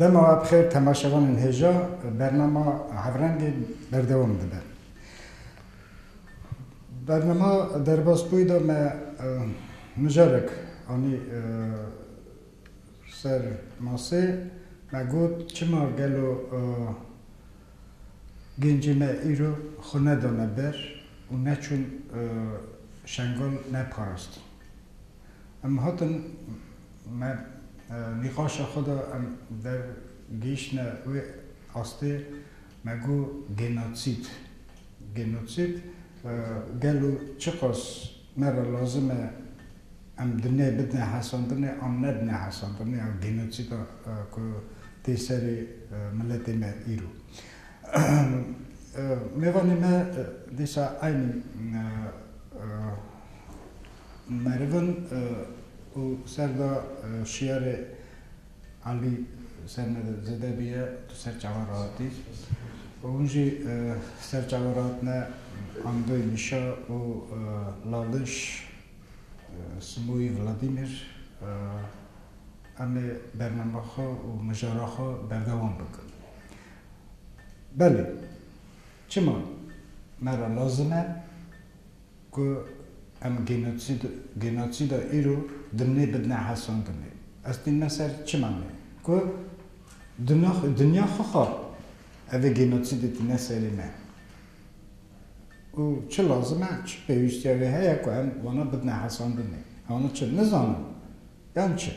Dema bi xêr temaşevanên hêja bernama Hevrengê berdewam dibe. Bernama derbas bûyî de me mijarek anî Ser masê me got çima gelo gencê me îro xwe nedane ber û neçûn Şengal neparastin. Em hatin me nîqaşa xwe da em der gihîştine wê astê me got genotsîd. Genotsîd gelo çiqas Me re lazim e em di nê bidne hesandinê an nebne hesandinê a genocîda ku tê serê miletê me îro. Mêvanê me dîsa eynî meriv in û serda şiyarê Alî ser me re zêde bûye, tu ser çavan rahatî û hûn jî ser çavan rahatine Andoy, Mişa û Laliş, Simoyî, Vladîmîr em ê bername xwe û mijara xwe berdewam bikin. Belê, çima me re lazim e. Ku em genosid genosîda îro dimnê bidine hesandinê. Ez tînime ser çi manê? Ku dina dinya xwe xwar. Ev ê genosidê tîne serê me. Û çi lazim e, çi pêwîstiya wê heye ku em wana bidine hesandinê? Wana çi? Nizanim. Yan çi?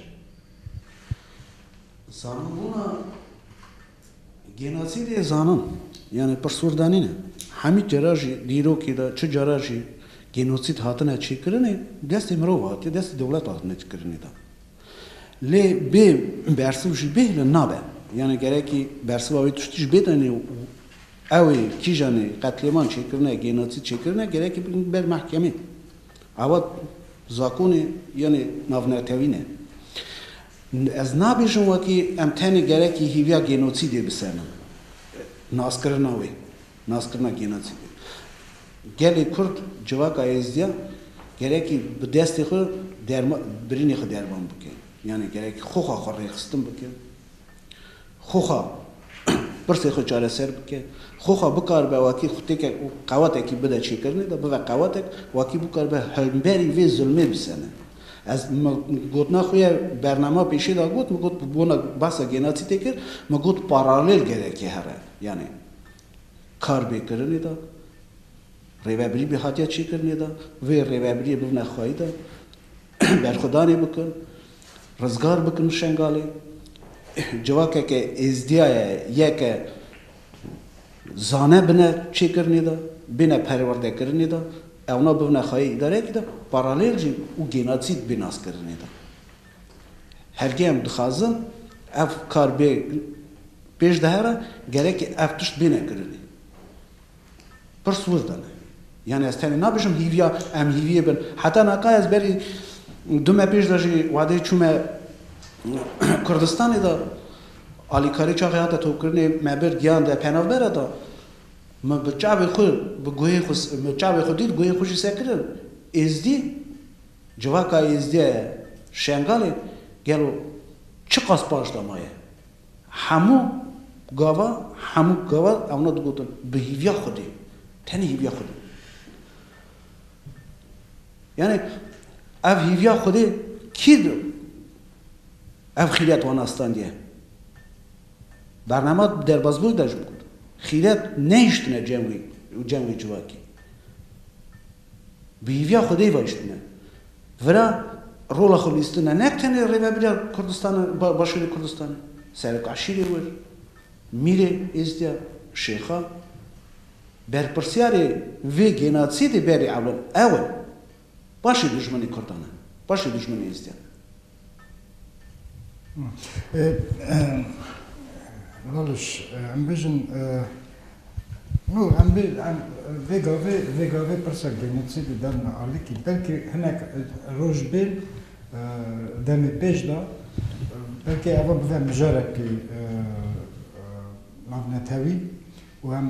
Zanîbûna Genocîdê zanan yanî pirsûrdanîn e. Hemî têra jî dîrokê de çi cara jî genocîd hatine çêkirinê destê mirov hatiye destê dewlet hatine çêkirinê de. Lê bê bersiv jî bêhile nabe. Yanî gerekî bersiva wê tiştî jî bêtenê û ew ê kîjan ê qetlêman çêkirine, genocîd çêkirine gerekî bin ber mehkemê. Ewa zakonê yanî navnetewîn e. Ez nabêjim wekî em tenê gerekî hîviya gênotsîdê bisenin, naskirina wê, naskirina gênotsîdê. Gelê Kurd, civaka Êzidiya gerekî bi destê xwe derma, birînê xwe derman bike. Yanî gerekî xwe xwe xwe rêxistin bike. Xoxa pirsê xwe çareser bike, xoxa bikaribe wakî xûtêkek û qewetekî bide çêkirinê de bibe qewetek, wakî bikaribe hemberî vê zilmê bisene. Ez gotina xwe ya bernama pêşê de got, min got bi bona behsa genocîtê kir, min got paralel gerek e here. Yanî kar bê kirinê de, rêvebirî bê hatiye çêkirinê de, vê rêvebirîyê bibine xwayî de, Berxwedanê bikin, rizgar bikin Şengalê. Civakeke Êzdiya ye, ye ke zane bine çêkirinê de, bine perwerdekirinê de, ewna bibine xayê îdareyekî de, paralel jî û gênotsîd bê naskirinê de. Hergê em dixwazin ev kar bê pêş de here, gerekî ev tişt bêne kirinê. Pirs wirde ne. Yanî ez tenê nabêjim hîviya em hîviyê bin. Heta naka ez berî du me pêş de jî wadeyê çûme Kurdistanê de alîkarî çaxê hate topkirinê me bir giyan de penavbere de min bi çavê xwe bi guhê xwe min çavê xwe dît guhê xwe jî sekirin. Êzdî civaka êzdiye ye Şengalê gelo çiqas paşda ma ye. Hemû gava, hemû gava ewna digotin bi hîvîya xwedî, tenê hîvîya xwedî. Yanî ev hîvîya xwedî kî di ev xîret wan astandiye? Bername di derbazbûyî de jî got, xîret nehiştine cem wî û cem wê civakî. Bi hêviya xwedê ve iştine vira, rola xwe lîstine ne tenê rêveberiya Kurdistana Başûrê Kurdistanê, serok eşîrê wir, mîrê êzdiya, şêxa. Berpirsiyarê vê genosidê berê ewil ew in. Başê dijminê Kurdan in, başê dijminê êzdiyan in. Baliş, em bijin no em bê em vê gavê vê gavê pirsek genetsî di derna alikî belkî hinek roj bên demê pêş de belkî eva bive mijarekî navnetewî û em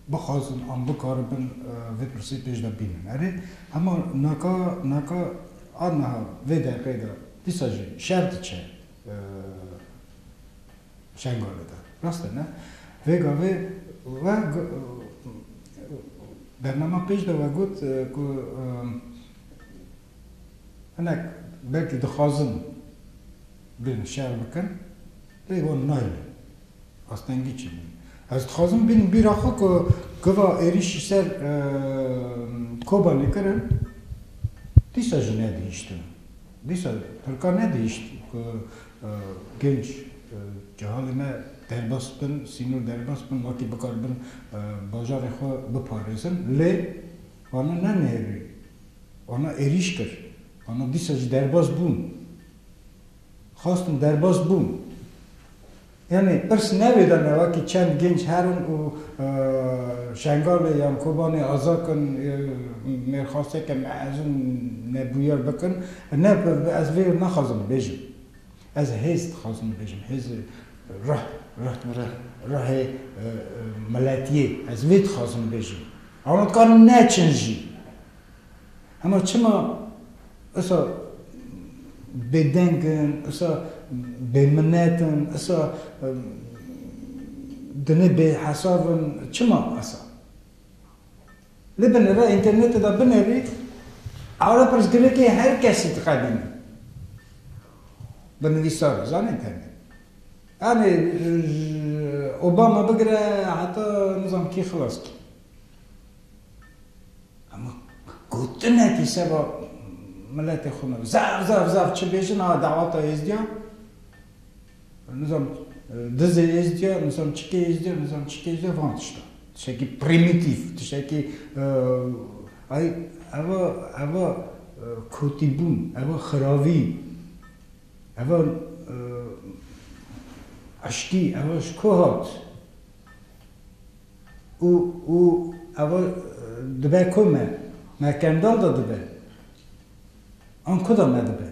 bixwazin an bikaribin vê pirsê pêş de bînin. Erê hema naka naka A niha vê deqê de dîsa jî şer diçe Şengalê de. Rast e ne? Vê gavê we bernama pêş de we got ku hinek belkî dixwazin bên şer bikin lê wan nayêne. Astengî çi bû? Ez dixwazim bin bîra xwe ku giva êrîşî ser Kobanê kirin, dîsa jî nedihîştin. Dîsa Tirkan nedihîşt ku genc cehalê me derbas bin, sînor derbas bin, wekî bikaribin bajarê xwe biparêzin. Lê wana nenihêrî, wana êrîş kir, wana dîsa jî derbas bûn. Xwestin derbas bûn. Yanî pirs nevêda me wekî çend gênc herin û Şengalê yan Kobanê aza kin ya mêrxaseke mezin nebûyer bikin. Ne ez vê naxwazim bêjim. Ez hêz dixwazim bêjim. Hêz ruh ruh ruhê miletiyê. Ez vê dixwazim bêjim. Ama dikarin neçin jî. Hema çima esa bêdeng in, esa bêminet in, esa dinê bêhesav in, çima esa? Lê bi nava înternetê de binevî, ara pirsgirêkê her kesî dixebîne. Bi nivîsar e, zanîn tenê. Yanî ji Obama bigire heta nizam kî xilas kî. Hema gotinekî seba miletê xwe me zaf zaf zaf çi bêjin a dawata êzdiya nizam dizê êzdiya nizam çikê êzdiya nizam çikê êzdiya van tiştan tiştekî prîmîtîf tiştekî ay eva eva kotîbûn eva xiravî eva eşkî eva ji ku hat. Û û ev o dibe ku me? Me Kendal de dibe. An ku de me dibe?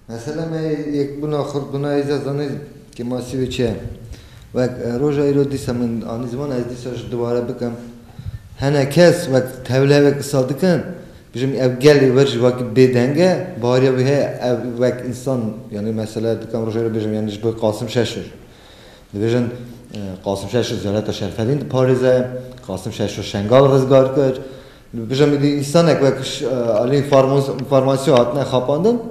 Mesela me yekbûna xurtbûna hêj de zanî ke masîvê çi ye. Wek roja îro dîsa min anî ziman ez dîsa ji dubare bikim. Hene kes wek tevleve qisa dikin dijim ev gelê wir jî wekî bêdeng e. Bariya wî heye ev wek însan yanî mesela dikim roja îro bijim yanî ji bo Qasim Şeşur. Dibêjin Qasim Şeşo ziyareta Şerfedîn diparêze, Qasim Şeşo Şengal rizgar kir. Dibêjin min dît însanek wek aliyên farmasyon hatine xapandin.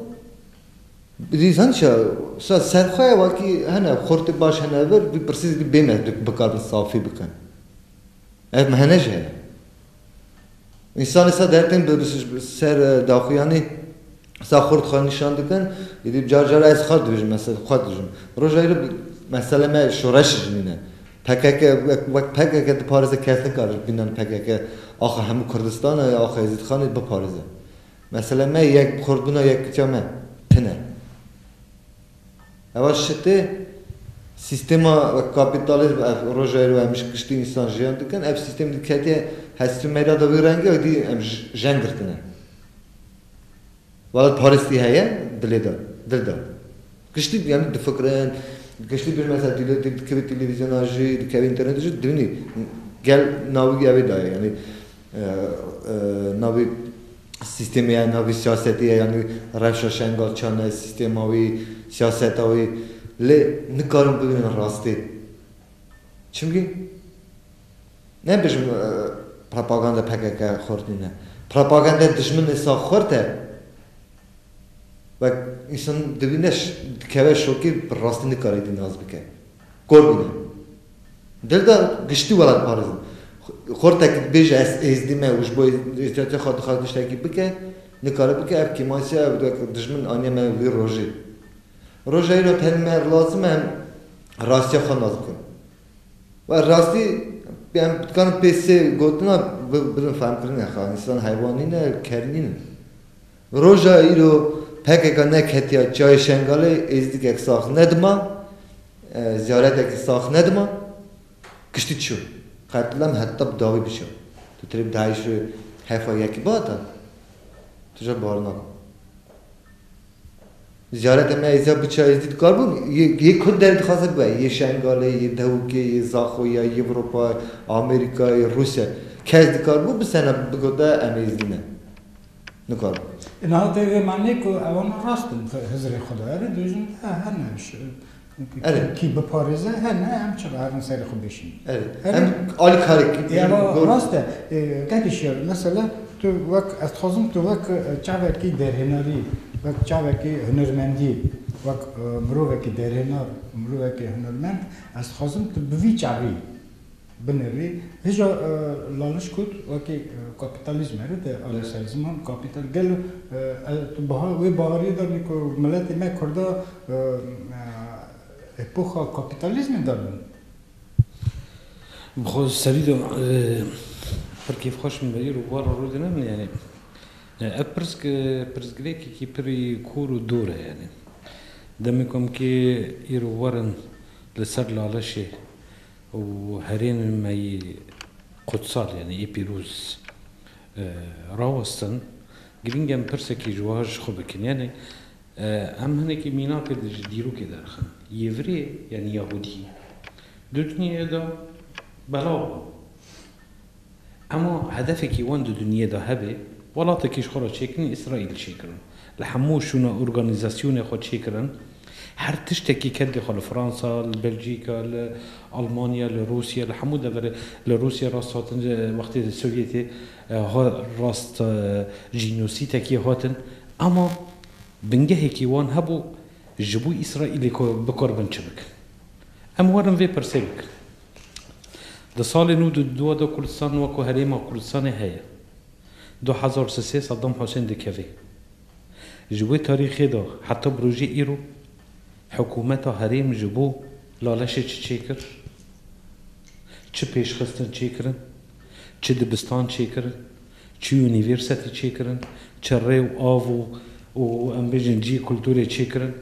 Dît hin çi ye serxwe ye wekî hene xurtê baş hene vir vî pirsî zî bê me bikarin safî bikin. Ev mihene jî heye. Însan îsa dertên bi ser daxuyanî îsa xurt xwe nîşan dikin. Êdî car car ez xwe dibêjim mesela xwe dijim. Roja îro meselê me şoreşê jinîn e. Pkk wek pkk diparêze kes nikare ji bînan pkk axa hemû Kurdistanê ya axa Êzîdxanê biparêze. Meselê me yek xurtbûna yekitiya me tune. Heval şitê sîstema wek kapîtalîzm ev rojayê rû hemîş kiştî însan jiyan dikin. Ev sîstem dî ketiye hestî meyda de wî rengî wek dî em jeng girtine. Wala parêstî heye dilê de, dil de. Kiştî yanî difikirin, kiştî bêjin mesela dîlotî dikevî televîzyona jî, dikevî înternetê jî dibînî gel navigî ew ê dayê yanî. Navê sîstemê ye, navê siyasetê ye yanî rewşa şengal çend e, sîstema wê, siyaseta wê lê nikarin bibin rastî. Çimkî nebêjim propaganda pkk xurt nîne. Propaganda dijminê sax xurt e. Wek însan dibîne dikeve şokê bi rastî nikare dî nas bike. Kor bûne. Dil de giştî welatparêzin. Xortekî dibêje ez êzdî me û ji bo êzdiyatiya xwe dixwaze tiştekî bike, nikare bike, ev kêmasiya ew wek dijmin aniye me vî rojê. Roja îro tenê me lazim e em rastiya xwe nas bikin. Û rastî em dikarin pê sê gotina bibin fehmkirinê xwe, însan heywan nîne, ker nîn in. Roja îro pkk neketiya çayê Şengalê êzdikek sax nedima, ziyaretekî sax nedima, kiştî çû. Qetlem heta bi dawî biçû. Tu tirê bi dahî şûrê hefa yekî bihata? Tu jê bar nake. Ziyarete me êziya biça êzdî dikar bûn? Yê kurd derê dixwaze bibe, yê Şengalê, yê Dewikê, yê Zaxoya, yê Ewropa, Amerîka, yê Rûsya. Kes dikar bû bi sena bigote em êzdî ne. Nikarim. Niha te vê ma nê ku ewana rast in Hizirê xwe de. Erê bêjin de hene kî biparêze hene em çi herin serê xwe bêşînin. Erê em alî karek. Ya rast e. Gelî şer e. Mesela tu wek ez dixwazim tu wek çavekî derhênarî, wek çavekî hunermendî, wek mirovekî derhênar, mirovekî hunermend ez dixwazim tu bi vî çavî Binê vê hêja laliş kut wekî kapîtalîzme re tê aleyhsayê ziman kapîtal gelo tu biha wê baharîyê de bî ku miletê me kurda epoxa kapîtalîzmê de bin. Bi xwe serî de pir kêfxweş min veyî ro war rû dine min yanî ev pirsk pirsgirêkekî pirî kûr û dor e yanî demê komkê îro werin li ser lalişê Û herêmê me yê qudsal yanî yê pîroz rawestin, girîng e em pirsekî ji wiha ji xwe bikin. Yanî em hinekî mînakê di ji dîrokê derxin. Yêvirê yanî Yahûdî di dinyayê de belav bûn. Ema hedefekî wan di dinyê de hebe, welatekî ji xwe re çêkirin, Îsraîlî çêkirin. Li hemû şûna organîzasyonê xwe çêkirin. Her tiştekî keldê xwe li Fransa, li Belcîka, li Almanya, li Rûsya, li hemû deverê, li Rûsya rast hatin wextê Sovyetê rast jînosîtekî hatin. Ema bingehekî wan hebû ji bo Îsraîlê bikor bin çi bikin. Em werin vê pirsê bikin. Di salê nû di dûa de Kurdistan weko herêma Kurdistanê heye. Du hezar û sê sê Saddam Husên dikeve. Ji wê tarîxê de heta bi rojê îro hikûmeta herêm ji bo laleşê çi çêkir? Çi pêşxistin çêkirin? Çi dibistan çêkirin? Çi unîvêrsetî çêkirin? Çi rê û av û û em bêjin cî kulturê çêkirin?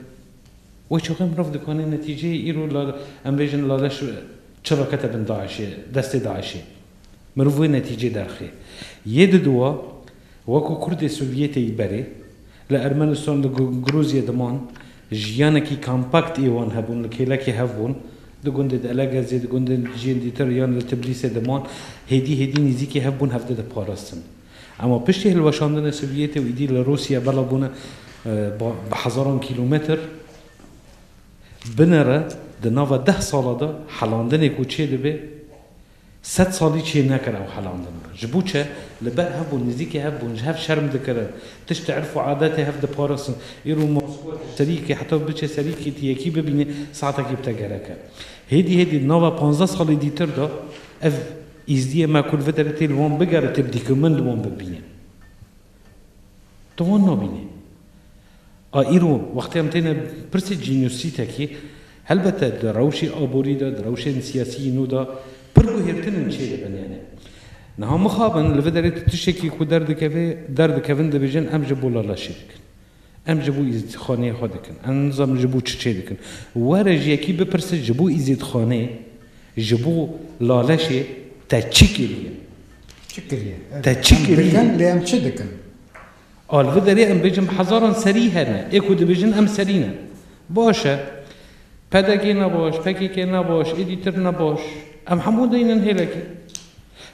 Wê çaxê mirov dikanê netîceyê îro la em bêjin la leş çi re kete bin DAIŞ'ê, destê DAIŞ'ê. Mirov wê netîcê derxê. Yê di duwa weko kurdê Sovyetê yî berê, li Ermenistan, li Grûzye diman, jiyanekî kampakt ê wan hebûn, li kêlekê hev bûn, di gundê di Elegezê, di gundên dijîn dîtir yan li Tiblîsê diman, hêdî hêdî nîzîkê hev bûn hev de diparastin. Ema piştî hilweşandinê Sovyetê û êdî li Rûsya bela bûne bi hezaran kîlometr binêre di nava deh sala de helandinê ku çêdibê sed salî çênekir ew helandin e. Ji bo çi? Li ber hev bûn, nêzîkî hev bûn, ji hev şerm dikirin, tiştê erf û adetê hev diparastin. Îro Moskwa tu serîkê heta tu biçê serîkê tu yekî bibînî saetekî bi te gerek e. Hêdî hêdî di nava panzdeh salê dîtir de ev Îzdiyê me ku li vê derê tê li wan bige li têb dîk û min li wan bibîne. Tu wan nabînî. A îro wextê em têne pirsê cînûsîtekî, helbete di rewşê aborî de, di rewşên siyasîyî nû de pir guhêrtin û çê dibin yanî. Niha mixabin li vê derê tu tiştekî ku derdikeve, derdikevin dibêjin em ji bo lala şê dikin. Em ji bo Îzîdxaneyê xwe dikin. Em nizanim ji bo çiçê dikin. Were ji yekî bipirse ji bo Îzîdxaneyê, ji bo Laleşê te çi kiriye? Çi kiriye? Te çi kiriye? Em dikin lê em çi dikin? A li vir derê em bêjin hezaran serî hene. Ê ku dibêjin em serî ne. Baş e. PDK'ê ne baş, PKK'ê ne baş, êdî tir ne baş. Em hemû deynin hêlekê.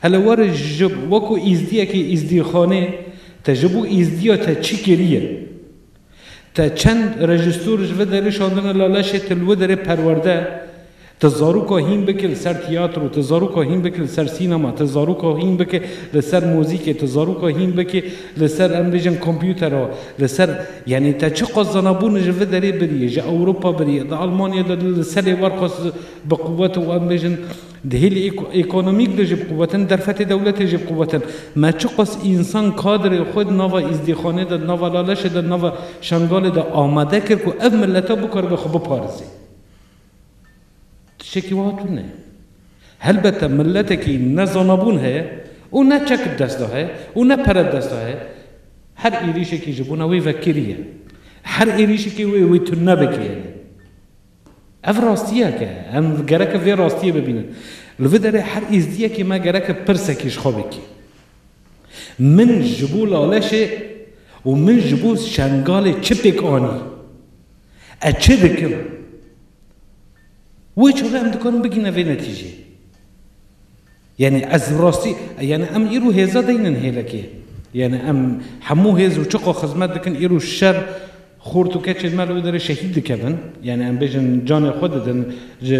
Hele were ji we ku îzdiyekî îzdîxanê te ji bo îzdiya te çi kiriye? Te çend rejîstor ji vir derê şandine la leşê te li wir derê perwerde? Te zaroka hîn bike li ser tiyatro, te zaroka hîn bike li ser sînema, te zaroka hîn bike li ser muzîkê, te zaroka hîn bike li ser em bêjin kompûtera, li ser yanî te çiqas zanabûn ji vir derê birî, ji Ewropa birî, di Almanya de li serê wer xwest bi quwet û em bêjin Di hêlî ekonomîk de jî bi quwetin, derfetê dewletê jî bi quwetin. Me çiqas însan kadrê xwe di nava îzdîxanê de, di nava Laleşê de, di nava Şengalê de amade kir ku ev mileta bikaribe xwe biparêze. Tiştekî wiha tune ye. Helbete miletekî ne zanabûn heye û ne çek di dest de heye û ne pere di dest de heye, her êrîşekî ji bona wê vekirî ye. Her êrîşekê wê wê tune bikêre. Ev rastiyek e. Em gereke vê rastiyê bibînin. Li vê derê her êzdiyekê me gereke pirsekê ji xwe vekê. Min ji bo Laleşê û min ji bo Şengalê çi pêk anî? Ez çi dikim? Wê çavê em dikarin bigîne vê netîjê. Yanî ez bi rastî yanî em îro hêza deynin hêlekê. Yanî em hemû hêz û çiqo xizmet dikin îro şer xort û keçên me li wê derê şehîd dikevin. Yanî em bêjin canê xwe didin ji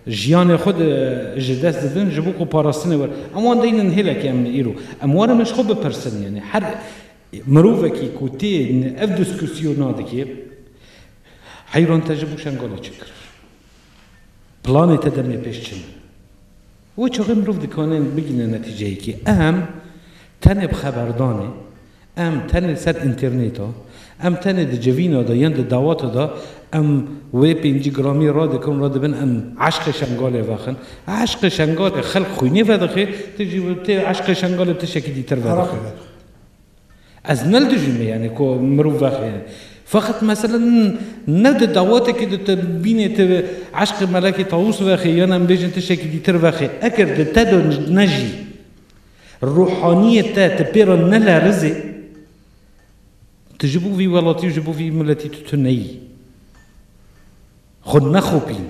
jiyanê xwe di ji dest didin ji bo ku parastinê were. Em wan deynin hêlekê em li îro. Em warin min ji xwe bipirsin yanî her mirovekî ku tê ev dîskûsyona dikê heyran te ji bo şengalê çi kir? Planê te demê pêş çi ne? Wê çaxê mirov dikanên bigihîne netîceyekê. Em tenê bi xeberdanê, em tenê li ser înternêta, em tenê di civîna de yan di dawata de em wê pêncî gramî radikin radibin em eşqê Şengalê vexin. Eşqê Şengalê xelk xwînê vedixê, tu jî tê eşqê Şengalê tiştekî dîtir vedixî. Ez ne li dijî me yanî ku mirov vexêne. Feqet mesele ne di dawetekê de tu bînê tu eşqê Melekê Tawûs vexê yan em bêjin tiştekî dîtir vexê. Eger di te de ne jî ruhaniyê te ti pê re nelerizê tu ji bo vî welatî û ji bo vî miletî tu tu neyî. Xwe nexopîn.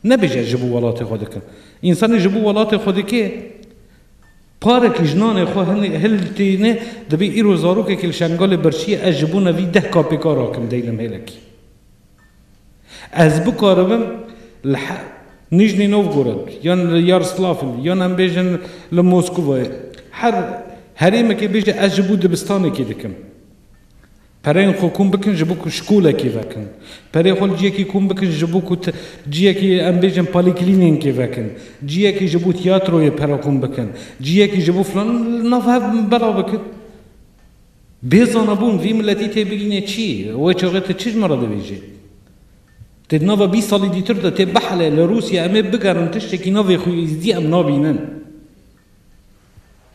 Nebêje ji bo welatê xwe dikim. Însanê ji bo welatê xwe dike, parekî ji nanê xwe hiltîne, dibê îro zarokekî li Şengalê birçîye, ez ji bona vî deh KPK rakim deylem hêlekî. Ez bikaribim li Nîjnî Novgorod yan li Yarslafil yan em bêjin li Moskvayê her herêmekê bêje ez ji bo dibistanekê dikim. Pereyên xwe kom bikin ji bo ku şkolekî vekin. Perê xwe li ciyekî kom bikin ji bo ku ciyekî em bêjin polîklînînkê vekin. Ciyekî ji bo tiyatroyê pere kom bikin. Ciyekî ji bo filan li nav hev belav bikin. Bê zanabûn vî miletî têbigînê çi yê? Wê çaxê tu çi ji min re dibêjî? Tu di nava bîst salî dîtir de tê bihelê li Rûsya em ê bigerin tiştekî navê xwîzdî em nabînin.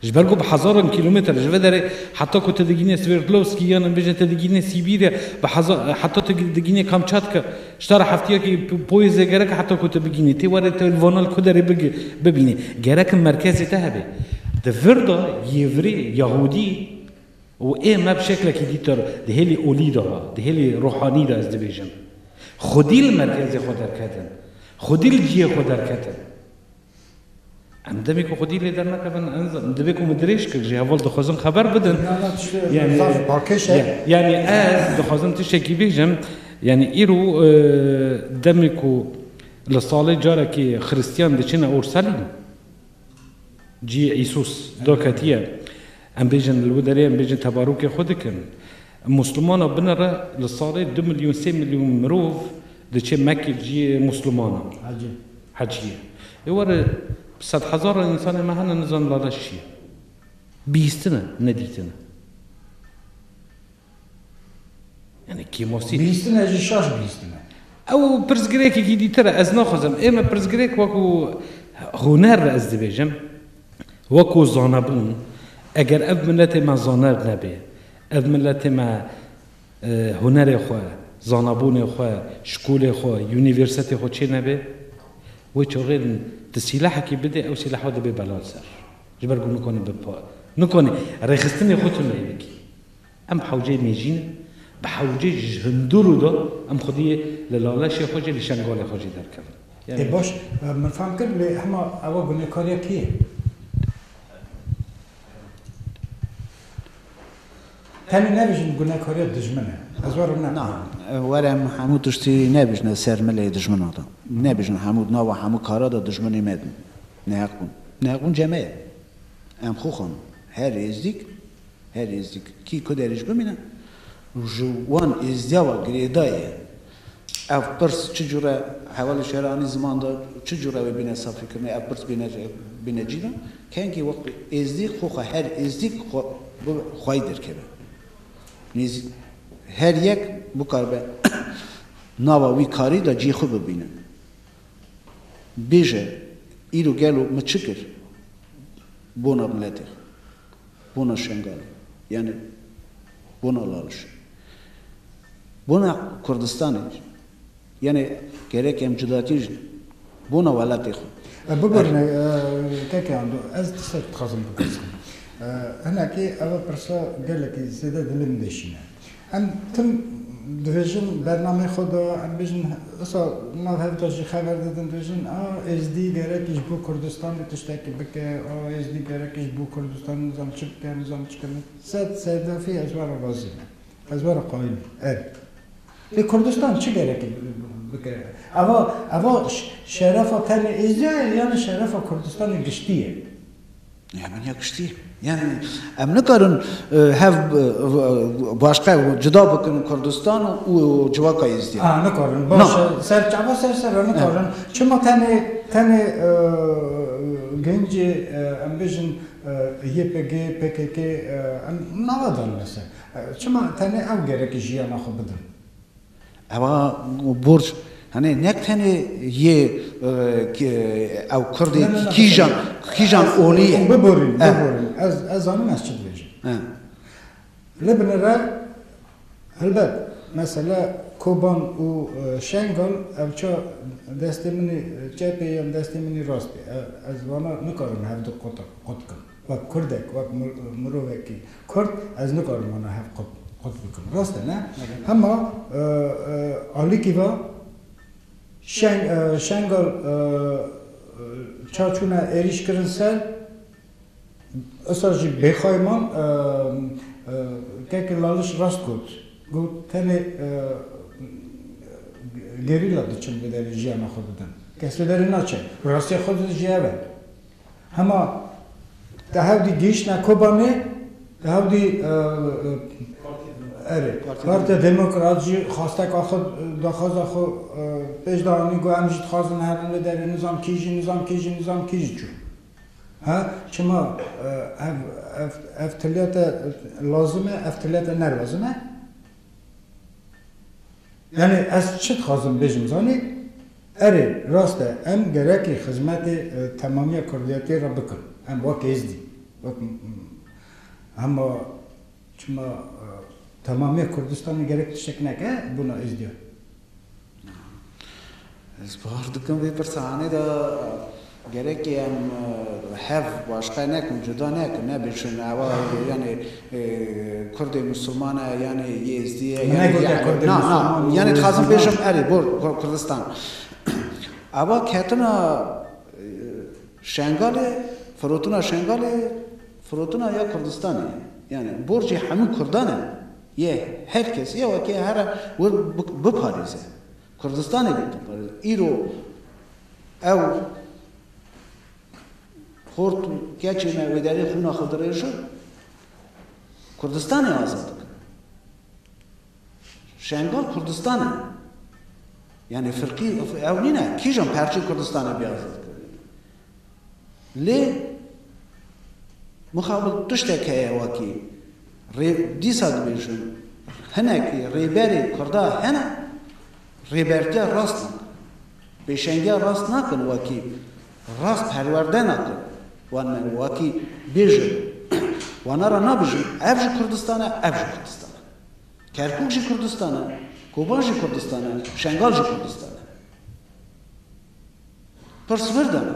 Ji ber ku bi hezaran kîlometre ji vê derê heta ku tu digînî Sverdlovskî yan em bêjin tu digînî Sîbîrya bi heza heta tu digînî Kamçatka ji te re hefteyekî poyêzê gerek e heta ku tu bigînî tê werê tu li Vanal ku derê bigi bibînî gerek in merkezê te hebe. Di vir de yê virê Yahûdî û ê me bi şeklekî dîtir di hêlê olî de ha di hêlê ruhanî de ez dibêjim xwedî li merkezê xwe derketin xwedî li cihê xwe derketin. Em demê ku xwedî lê dernakevin divê ku min dirêj kir jî heval dixwazin xeber bidin. Yanî ez dixwazim tiştekî bêjim yanî îro demê ku li salê carekê xirîstiyan diçine Ursalîm cî Îsus da ketiye em bêjin li wê derê em bêjin tebarûkê xwe dikin. Muslimana binire li salê du milyon sê milyon mirov diçe Mekkê cî muslimana. Hecîye. Ê were bi sed hezaran însanên me hene nizanin laleş çi ye. Bihîstin e, ne dîtin e. Yanî kêmosî. Bihîstin e jî şaş bihîstin e. Ew pirsgirêkekî dîtir e. Ez naxwazim ê me pirsgirêk wekû huner re ez dibêjim, wekû zanebûn, eger ev miletê me zaner nebê, ev miletê me Hunerê xwe, zanabûnê xwe, şkolê xwe, unîversetê xwe çê nebe, wê çaxêr tu sîlahekî bidê ew sîlah xwe dibê bela li ser. Ji ber ku nikane bipa, nikane rêxistinê xwe tundeyê bikî. Em hewceyê mêjî ne, bi hewcê ji hundur û da em xwediyê li laleşê xwe jî li şengalê xwe jî derkevin. Ê baş, min fam kir lê hema ewa gunekariya kê ye? Tenê nebijin gunekariya dijmin e. Ez we rû Na, nakim. were em hemû tiştî nebijne ser milê dijmina de. Nebijin hemû di nava hemû kara de dijminê me bûn. Neheq bûn. Neheqûnce me ye. Em xwe xwendin. Her êzdîk, her êzdîk kî ku derê jî bimîne û ji wan êzdiya we girêdayê Ev pirs çi cure hevalê şêra anî ziman de çi cure wê bîne safîkirinê? Ev pirs bîne bîne cî de kengî wextê êzdî xwe xwe her êzdîk xwe bi xwayî derkeve. Nêz her yek bikaribe nava wî karî de cî xwe bibîne. Bêje îro gelo min çi kir bona miletê xwe. Bona Şengalê yanî bona Lalişê. Bona Kurdistanê yanî gerek em cudatî ji bona welatê xwe. Bibêrn keke Ando ez tiştek dixwazim bipirsim. Hinekî ew pirsa gelekî zêde dilê min de şîn e. Em tim dibêjin bernameyê xwe de em dibêjin wisa nav hev de jî xeber didin dibêjin a Êzdî gerek ji bo Kurdistanê tiştekî bike a Êzdî gerek ji bo Kurdistanê nizam çi bike nizam çi kir sed sedefî ez were razî me ez were qayîl me ev lê Kurdistan çi gerekî bike eva eva şerefa tenê Êzdî ye yanî şerefa Kurdistanê giştî ye. Heman ya kiştî ye. Yani em nikarin hev başka cida bikin Kurdistan û civaka Êzidî. A nikarin. Baş e. Ser çava ser ser re nikarin. Çima tenê tenê gencê em bêjin YPG, PKK em nava dan li ser. Çima tenê ew gerekî jiyana xwe bidin. Eva borc Hani ne tenê yê ew Kurdê kîjan kîjan olî ye. Biborîn, biborîn. Ez ez zanim ez çi dibêjim. Li bin re helbet mesela Koban û Şengal ev ça destê min ê çepê yan destê min ê rastê. Ez vana nikarim hevdu qut qut bikim. Wek kurdek, wek mirovekî kurd ez nikarim wana hev qut bikim. Rast e ne? Hema alikî va Şengal ça çûne êrîş kirin ser usta jî bêxay man Keke Laliş rast got. Got tenê gerîla diçin bi derê jiyana xwe didin. Kes bi derê naçe. Rastiya xwe didin jî ev e. Hema te hewdî gihîştine Kobanê, te hewdî erê Partîya Demokrat jî xwasteka xwe daxwaza xwe pêş de anî got em jî dixwazin herin li derê nizam kî jî nizam kî jî nizam kî jî çû he çima ev ev ev tiliya te lazim e ev tiliya te nelazim e. Yanî ez çi dixwazim bêjim zanî? Erê, rast e, em gerekî xizmetê temamiya kurdiyetê re bikin. Em wek Êzdî, wek hema çima temamiya Kurdistanê gerek tiştek neke bûna Êzdiyan. Ez bawer dikim vê pirsa anê de Gerekî em hev başqe nekin, cuda nekin, nebêjin ewa yanê kurdê misûlman e yanê yêzdî ye Min yanê negote kurdê na na misûlman û yanê yêzdî dixwazim na. bêjim erê bor kurdistan ewa ketina şengalê firotina şengalê firotina ya kurdistanê ye yanê borcê hemû kurdan e yê her kes ya wekî here wir biparêze Kurdistanê bê toparin. Îro ew xort û keçê me wê derê xûna xwe dirêjin, Kurdistanê azad dikin. Şengal Kurdistan e. Yanî firqî ew nîne, kîjan perçên Kurdistanê bê azad kirin. Lê mixabel tiştek heye wekî rê dîsa dibêjin hinekî rêberê kurda hene rêbertiya rast nakin, pêşengiya rast nakin wekî rast perwerde nakin wan me wekî bêjin wana ra nabêjin ev jî Kurdistan e ev jî Kurdistan e. Kerkûk jî Kurdistan e, Koban jî Kurdistan e, Şengal jî Kurdistan e. Pirs wir de bû.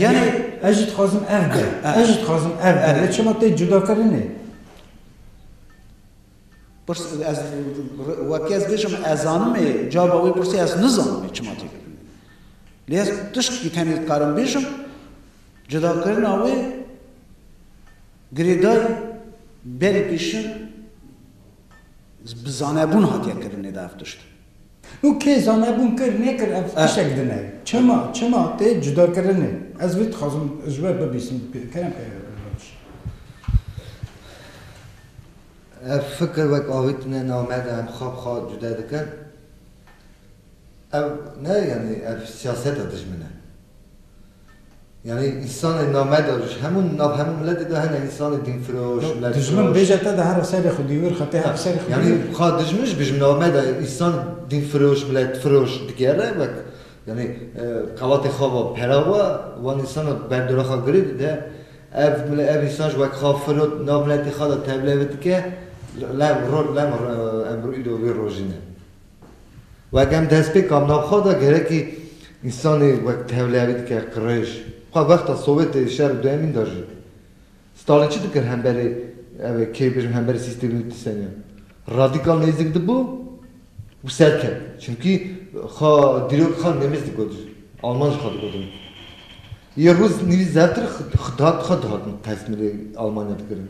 Yanî ez jî dixwazim ev be, ez jî dixwazim ev be, lê çima tê cudakirinê? Pirs ez wekî ez bêjim ez zanim ê cava wê pirsê ez nizanim ê çima tê kirinê. Lê ez tiştkî tenê dikarim bêjim cudakirina wê girêdayî berî pêşin bi zanebûn hatiye kirinê de ev tişt. Û kê zanebûn kir nekir ev tişek din e. Çima, çima tê cudakirinê. Ez vê dixwazim ji we bibîsim pê kerem e rewş. Ev fikir wek avê tune nav me de em xwe bi xwe cuda dikin. Ev ne yanî ev siyaseta dijmin e. Yanî însanên namedar ji hemû nav hemû miletê de hene însanê dînfiroş, milletfiroş. Dijmin bêje te de hera serê xwedî wir xwe tê hera serê xwedî wir. Yanî ka dijmin jî bijim nameda însan dînfiroş, milletfiroş digere wek yanî qevatê xwe ve pera we wan însana ber diraxa girê dide ev ev însan jî wek xwe firot nav miletê xwe de tevlê ve dike lem roj lem em îro vê rojî ne. Wek em destpêkan navxwe de gerekî însanê wek tevleyarî dike, qirêj. Xwe wexta Sowetê ê şer û duyemîn de jî. Stalin çi dikir hemberê ev ê kê bêjim hemberê sîstemî û dîsenê ya. Radîkal nêzik dibû û serket. Çimkî xwe dîrok xwe nêmîz digot ji alman ji xwe digotin. Yê rûz nîvî zevtir xwe dihatin tesmîlê almanya dikirin.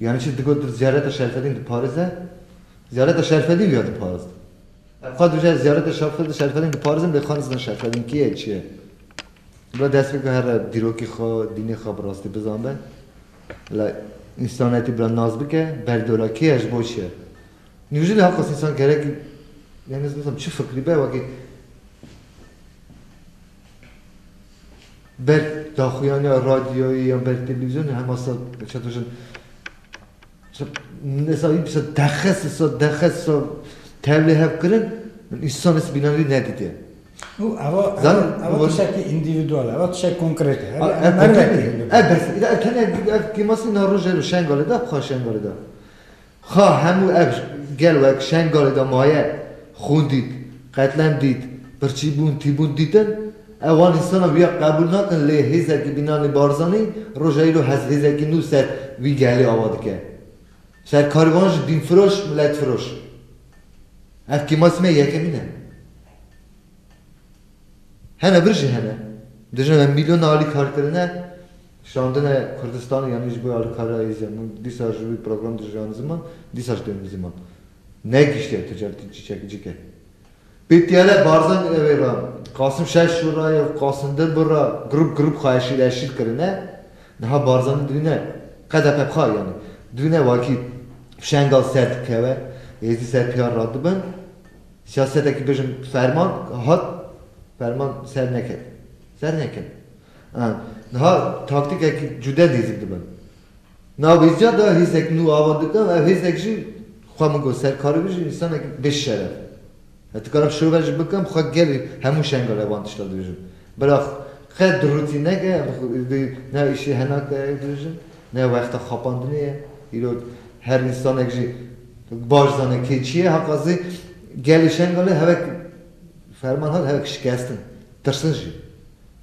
Yanî çi digot tu ziyareta Şerfedîn diparize? Ziyareta Şerfedîn viya diparizin. Ev xwe dibêje ez ziyareta Şerfedîn diparizim lê xwe nizanim Şerfedîn kê ye çi ye. Bila dest bike here dîrokê xwe, dînê xwe bi rastî bizanbe. Bila însanetî bila nas bike, berdê wila kê ye ji bo çi ye. Nîv jilê haqas însan gerekî yanî ez nizanîm çi fikrî be wekî. ber daxuyaniya radyoyê yan ber televîzyonê hema sal çend rojan nesayî bisa dexes sa dexes sa tevlê hev kirin min însan ez bînan wî nedidiye. Û eva eva tişekî individual eva tişek konkret e. Ev mervekê. Ev bes. Ev tenê ev kêmasî na rojê ro şengalê de xwe şengalê de. Xa hemû ev gel wek Şengalê de maye, xûn dît, qetlem dît, pirçîbûn, tîbûn dîtin, ew wan însana wiya qebûl nakin lê hêzekî Bînanî Barzanî roja îro hezhêzekî nû ser wî gelê ava dike. Ser karê wan jî dînfiroş, miletfiroş. Ev kêmasî me yekemîn e. Hene vir jî hene. Dijî me mîlyona alî karkirine. Şandine Kurdistanê yanî ji bo alîkariyayê jî hemû dîsa ji wî program dijîranî ziman, dîsa ji pênc ziman negihîştiye tu cewtî çîçek cik e. Pê tîyare Barzanî ew ê ra Qasim şer şûr ra ya Qasim dir bir ra girûp girûp xwe eşîl eşîl kirine, niha Barzanî dibîne qede qe bixwe yanî dibîne wakî fişengal ser dikeve, hêzî ser pîyar radibin, siyasetekî bijim ferman hat, ferman ser neket, ser neket. Em niha taktîkek cude nêzîk dibin. Nav hêziya de hêzek nû ava dikin, ev hêzek jî xwe min got ser karî bijî însanek bê şeref e. Ez dikarim şove jî bikim xwe gelê hemû şenga re van tişta dibêjim. Bira qet dirûtî neke em vê ne îşê hena ke dibêjin, ne wexta xapandinê ye. Îro her însanek jî baş dizane kê çi ye. Heqa zê gelê şengalê hevek ferman hat, hevek şikestin, tirsin jî.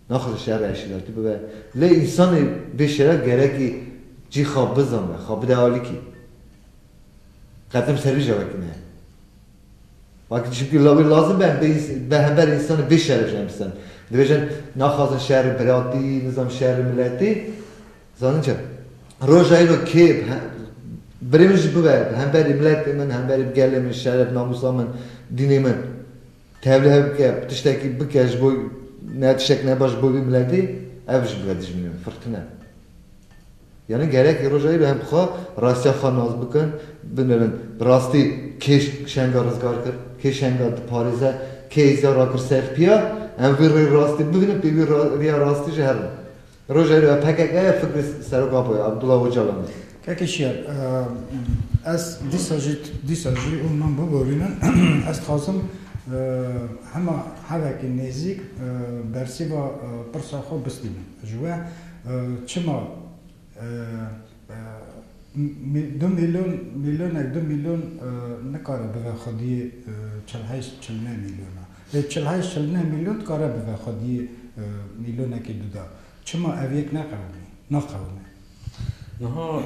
Naxir li şer re eşkelatî bibe. Lê însanê bê şeref gerekî cî xwe bizane, xwe bide alikî. Qetim servîja wekî ne ye. Wekî çimkî wê lazim be em bê be hember însanê bê şeref jî em biserin. Dibêjin naxwazin şerê biratî, nizanim şerê miletî. Zanîn çi? Roja îro kê birê min jî bibe hemberê miletê min, hemberê gelê min, şeref namûsa min, dînê min. Tevlihev bike, bi tiştekî bike ji bo ne tiştek ne baş ji bo vî miletê, ev ji bila dijmînin, firqine. Yanî gerekî roja îro em xwe rastiya xwe nas bikin, binêrin bi rastî kê şenga rizgar kir, kê şenga diparêze, kê îzya rakir ser piya, em vî rê rastî bibînin pê vî riya rastî jî herin. Rojevê ya pkk ya fikr li serok Apo ye Abdullah Ocalan e. Kekê şiyer ez dîsa jî dîsa jî û min biborînin ez dixwazim hema hevekî nêzîk bersîva pirsa xwe bistînim ji we çima du mîlyon mîlyonek du mîlyon nikare bibe xwediyê çil heyş çil neh mîlyona. Lê çilhay çil neh mîlyon dikare bibe xwedî mîlyonekî duda. Çima ev yek neqewimî? Naqewime. Niha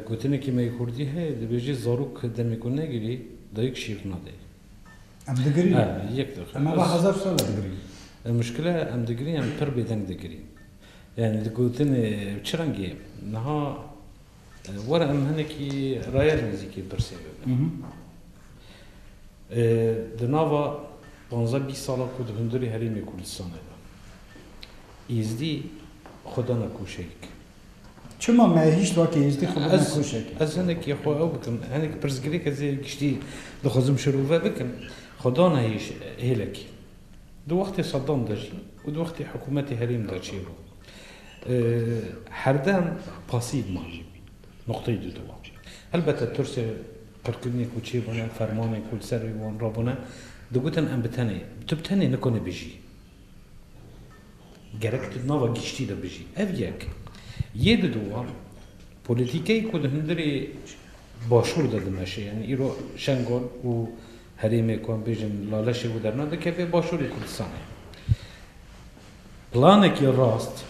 gotinekî me yê kurdî heye dibêje zarok demê ku negirî dayik şîr nade. Em digirîn. He yek dixe. Em ava hezar sal e digirîn. Muşkile em digirîn em pir bêdeng digirîn. Yanî di gotinê çi rengî ye? Niha. Were em hinekî raya nêzîkê pirsê bibin. Di nava panzdeh bîst sala ku di hundirê Herêmê Kurdistanê de Êzdî xwe dana koşeyek. Çima me hîç wekî Êzdî xwe bidin koşek? Ez hinekî xwe ew bikim, hinekî pirsgirêk ez ê giştî dixwazim şirove bikim. Xwe dana hêlekê. Di wextê Saddam de jî û di wextê hikûmetê herêm de çêbû. Herdem pasîv man. Nuqteyî du dewa. Helbete tirsê qirkirinê ku çêbûne, fermanên ku li ser rê wan rabûne, digotin em bi tenê, tu bi tenê nikonî bijî. Gerek tu di nava giştî de bijî. Ev yek. Yê du dewa, polîtîkeyê ku di hundirê Başûr de dimeşe, yanî îro Şengal û herêmê ku em bêjin laleşê wî derna, dikeve Başûrê Kurdistanê. Planekî rast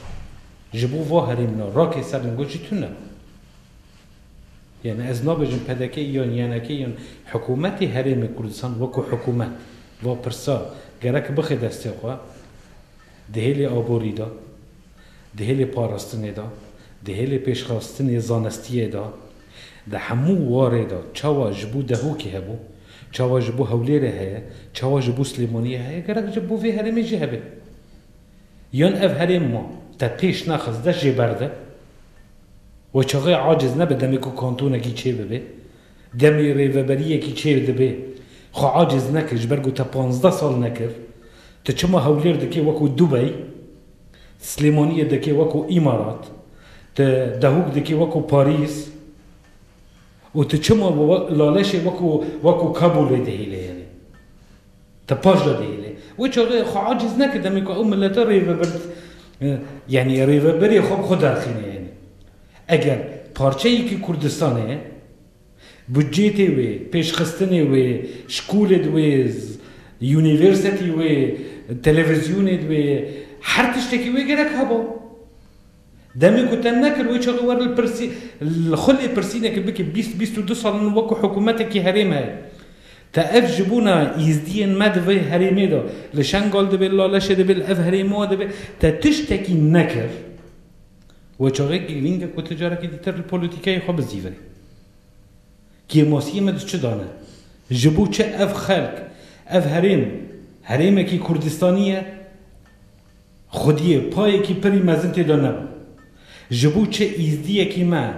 ji bo va herêmina rakê ser li gor jî tune. Yanî ez nabêjim pdk yan ynk yan hikûmetê Herêmê Kurdistan wekû hikûmet va pirsa gerek bixê destê xwe di hêlê aborî de, di hêlê parastinê de, di hêlê pêşxastinê zanistiyê de, Di hemû warê de çawa ji bo Dehokê hebû, çawa ji bo Hewlêrê heye, çawa ji bo Silêmaniyê heye gerek ji bo vê herêmê jî hebe. Yan ev herêm ma te pêş nexist dest jê berde we çaxê aciz nebe demê ku kantonekî çê bibe, demê rêveberiyekî çê dibe xwe aciz neke ji ber ku te panzdeh sal nekir, tu çima Hewlêr dikê wekû Dubey Silêmaniyê dikê weko îmarat, ti dehûk dikî weko Parîs û ti çima bi laleşê weko weko Kabûlê dihêlê yanî ti paş de dihêlê. Wê çaxê xwe acîz neke demê ku ew milete rêvebir yanî rêvebirê xwe bi xwe derxîne yanî. Eger parçeyekî Kurdistanê ye. Budcêtê wê, pêşxistinê wê, şkolê di wê, unîversetî wê, televîzyonê di wê, her tiştekî wê gerek hebo. Demê ku te nekir wê çaxê wer li pirsî li xwe lêpirsînekê bikî bîst bîst û du sal min wek ku hikûmetekî herêm heye. Te ev ji bona îzdiyên me di vê herêmê de li Şengal de bê, li Laleşê de bê, li ev herêma de bê te tiştekî nekir. Wê çavê girîng e ku tu carekî dîtir li polîtîkayê xwe bizîvin. Kêmasiyê me di çi de ne? Ji bo çi ev xelk, ev herêm, herêmekî Kurdistanî ye? Xwediyê payekî pirî mezin tê de nebû. Ji bo çi Îzdiyekî me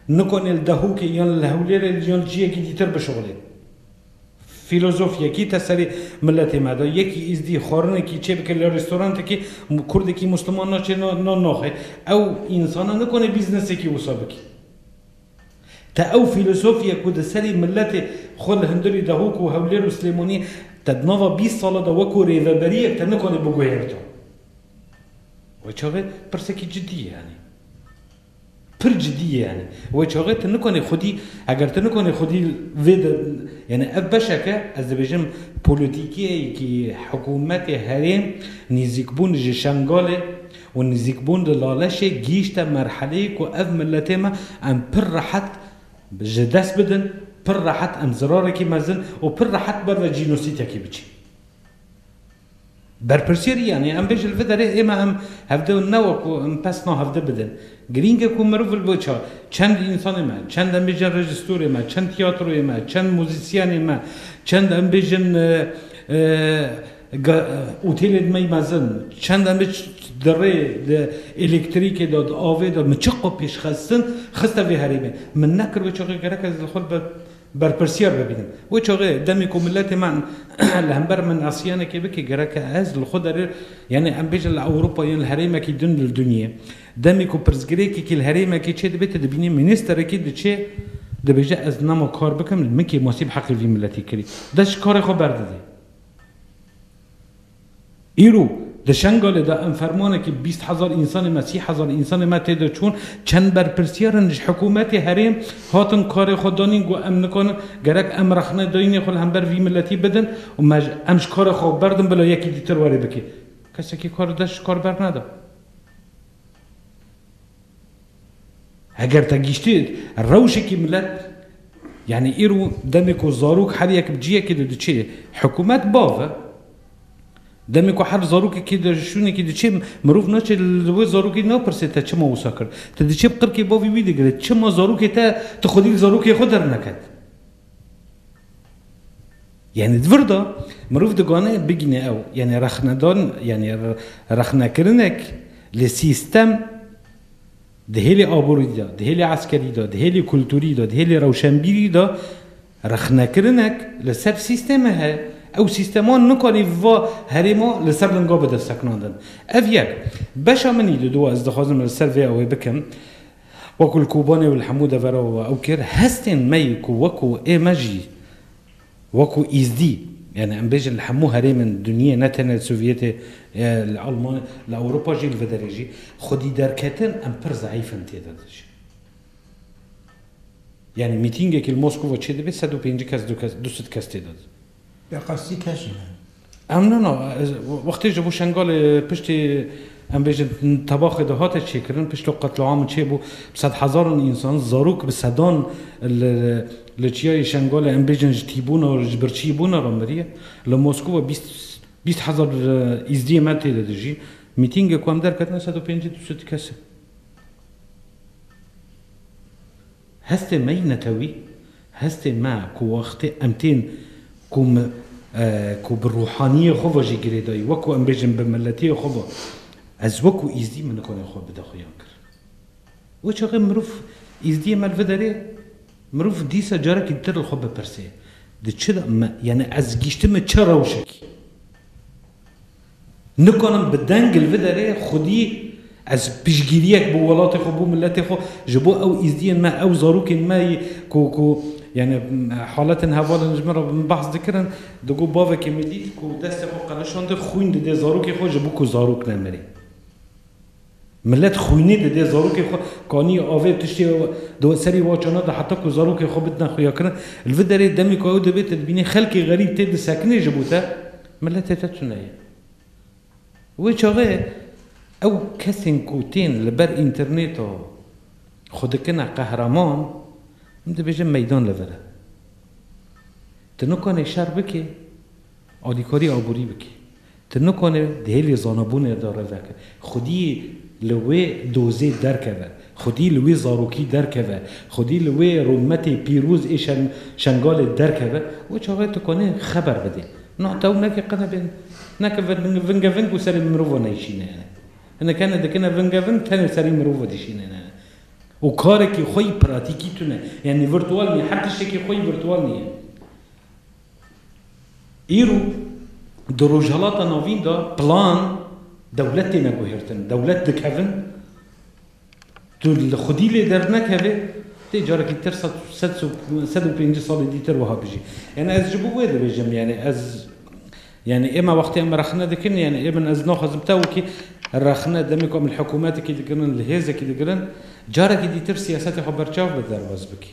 nikanê li Dehokê yan li Hewlêrê yan ciyekî dîtir bişuxulê? Fîlozof yekî te serê miletê me de, yekî îzdî xwarinekî çêbike li restorantekê, kurdekî musliman naçê na naxê. Ew însana nikane bîznesekî wisa bike. Te ew fîlozofîye ku di serê miletê xwe li Hundirê, Dahok û Hewlêr û Silêmaniyê te di nava bîst sala de weko rêveberiyek te nikane biguherta. Wê çavi pirsekî cidî ye. Yanî. Pir cidî ye yanî. Wê çaxê tu nikanî xwedî, eger tu nikanî xwedî vê de yanî ev beşeke ez dibêjim polîtîkeyekî hikûmetê herêm nîzîkbûn ji Şengalê û nîzîkbûn li Laleşê gihîşte merheleyê ku ev miletê me em pir rehet ji dest bidin, pir rehet em zirarekî mezin û pir rehet ber ve jînosîtekî biçîn. Berpirsiyê rî yanî em bê ji li vir derê ême em hevdê û ne wekû em pesna hevdê bidin. Girîng e ku mirov li bo ça, çend însanê me, çend em bêjin rejîstorê me, çend tîyatroyê me, çend muzîsyenê me, çend em bêjin otêlên me mezin, çend em bêjin di rê, di elektrîkê de, di avê de min çi qo pêşxistin, xiste vê herêmê. Min nekir wê çaxê gerek ez li xwe li ber berpirsyar bibînin. Wê çaxê demê ku miletê me li hember min asiyanekê bike gereke ez li xwe derê yanî em bêjin li Ewropa yan li herêmekî din li dinyê demê ku pirsgirêkekî li herêmekê çêdibe tu dibînî mînîsterekî diçe dibêje ez nema kar bikim min kêmasî bi heqê vî miletê kirî dest ji karê xwe berdidê. Îro di Şengalê de em fermanekî bîst hezar însanê me, sî hezar însanê me tê de çûn. Çend berpirsiyarên ji hikûmetê herêm hatin karê xwe danîn ku em nikarin gerek em rexne dayînê xwe li hember vî miletî bidin û me ji em ji karê xwe berdin bila yekî dîtir werê bike. Kesekî kar dest ji kar berneda. Heger te gîştî rewşekî milet yanî îro demê ku zarok her yek bi ciyekê de diçê hikûmet bav e. Demê ku her zarokekî di şûnekî diçê mirov naçê li wê zarokî napirsê te çima wisa kir. Ti diçê bi qirkê bavê wî digirê çima zarokê te ti xwedî li zarokê xwe derneket. Yanî di vir de mirov digane bigîne ew yanî rexnedan yanî rexnekirinek li sîstem di hêlê aborî de, di hêlê eskerî de, di hêlê kulturî de, di hêlê rewşenbîrî de rexnekirinek li ser sîstemê heye. Ew sîstema nikanî va herêma li ser linga bide sekinandin. Ev yek. Beşa min î li dû e ez dixwazim li ser vê ew ê bikim. Wek ku li Kobanê û li hemû devera we ew kir, hestên me yê ku wek ku ê me jî wek ku Îzdî, yanî em bêjin li hemû herêmên dinyê ne tenê li Sovyetê, li Elmanê, li Ewropa jî li vê derê jî xwedî derketin em pir zeîf in tê de dijîn. Yanî mîtîngekî li Moskova çêdibê sed û pêncî kes du sed kes tê de dijîn. Bi qesdî keşî ne. Em no no wextê ji bo Şengalê piştî em bêjin tebaxê de hate çêkirin pişto qetliamê çêbû bi sed hezaran însan zarok bi sedan li li çiyayê Şengalê em bêjin ji tîbûna ji birçîbûna re miriye. Li Moskowa bîst bîst hezar îzdiyê me tê de dijîn. Mîtîngê ku em derketine sed û pêncî du sed kes e. Hestê me yî netewî, hestê me ku wextê em tên ku me ku bi rûhaniyê xwe ve jî girêdayî wek ku em bêjin bi miletiyê xwe ve ez wek ku Îzdî min nikanê xwe bide xuyan kir. Wê çaxê mirov Îzdiyê me li vir derê mirov dîsa carekî dir li xwe bipirsê di çi de me yanî ez gihiştime çi rewşekî Nikanim bi deng li vir derê xwedî ez piştgiriyek bo welatê xwe, bo miletê xwe, ji bo ew îzdiyên me, ew zarokên me yî ku ku yanî haletên hevalên ji min re min behs dikirin, digot bavekê min dît ku destê xwe qelişandî, xwîn didê zarokê xwe ji bo ku zarok nemirê. Milet xwînî didê zarokê xwe kanî avê tiştê di serî wa çana de heta ku zarokê xwe bidine xuyakirin. Li vi derê demê ku ew divê te dibînî xelkê xerîb tê disekinê ji bo te miletê te tune ye. Wê çaxê ew kesên ku tên li ber înternêta xwe dikine qehreman min dibêje meydan li vir e. Tu nikanê şer bikê alîkarî aborî bikî. Tu nikane di hêlê zanabûnê de re veke. Xwedî li wê dozê derkeve. Xwedî li wê zarokî derkeve. Xwedî li wê rûmetê pîroz ê Şengalê derkeve û çawe tu kanê xeber bidê. Niha tew neke qene bên. Neke vingeving ku serê mirova neyşîne hene. Hinek hene dikine vingeving tenê serê mirova dişînin hene. Û karekî xwe yî pratîkî tune. Yanî virtual nîye. Her tiştekî xwe yî virtual nîye. Îro di Rojhilata Navîn de plan, dewlet têne guhertin, dewlet dikevin, tu li xwedî lê dernekevê, tê carekî tir sed sed û pêncî salê dîtir wiha bijî. Yanî ez ji bo wê dibêjim yanî ez yanî ême wextê em rexne dikin yanî êmin ez naxwazim te wekî rexne demê ku em li hikûmetekî dikirin, li hêzekî dikirin, carekî dîtir siyasetê xwe berçav bi derbas bikî.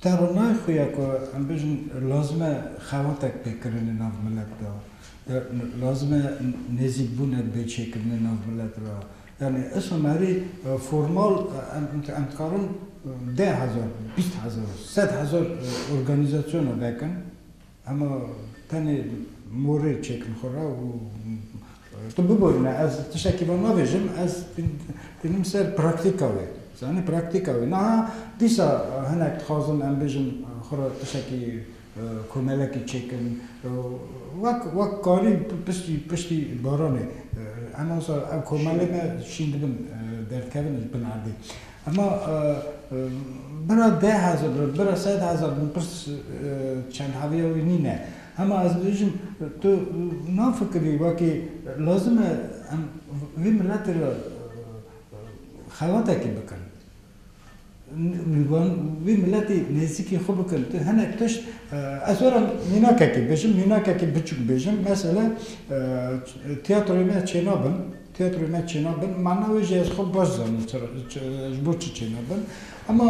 Te re nayê xwe ye ku em bêjin lazim e xewatek pê kirinê nav milet de, lazim e nêzîkbûnek bê çêkirinê nav milet re. Yanî êsam herî formal em dikarin deh hezar, bîst hezar, sed hezar organîzasyona vekin. Hema tenê morê çêkin xwe re û tu biborîne ez tiştekî van nabêjim ez tînim ser praktîka wê zanî praktîka wê niha dîsa hinek dixwazin em bêjin xwe re tiştekî komelekî çêkin wek wek karî piştî piştî baranê em wisa ew komelê me şîn dibin derdkevin ji bin erdê. Hema bira deh hezar bin, bira sed hezar bin pirs çendhaviya wî nîne. Hema ez dibêjim tu nafikirî wekî lazim e em vê miletê re xewatekî bikin. Vê miletê nêzîkî xwe bikin. Tu hinek tişt ez were mînakekê bêjim, mînakekî biçûk bêjim. Mesela tiyatroyê me Çêna bin. Têatroyê me çêna bin, mana wê jî ez xwe baş dizanim ji bo çi çêna bin. Hema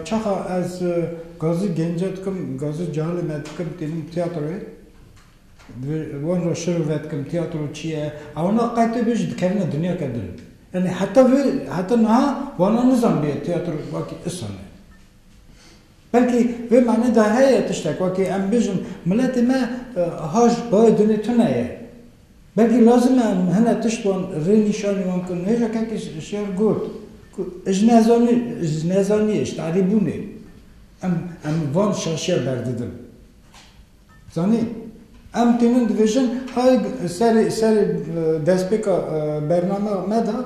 çaxa ez Gazî Gence dikim, Gazî Cehalê me dikim, tînim têatroyê. Bi wan re şiro vedikim, têatro çi ye? Ewna qetê bê jî dikerine dinyeke din e. Yanî heta vê, heta niha wana nizanibiye têatro wekî isan e. Belkî vê manê de heye tiştek, wekî em bêjin miletê me haj bayê dinê tune ye. Belkî lazim e em hinek tişt wan rê nîşanî wan bikin. Hêja kekê Şiyar got ku ji nezanî ji nezanîyê, ji talîbûnê em em van şaşiya berdidin. Zanî em tênin dibêjin hay serê serê destpêka bernameya me de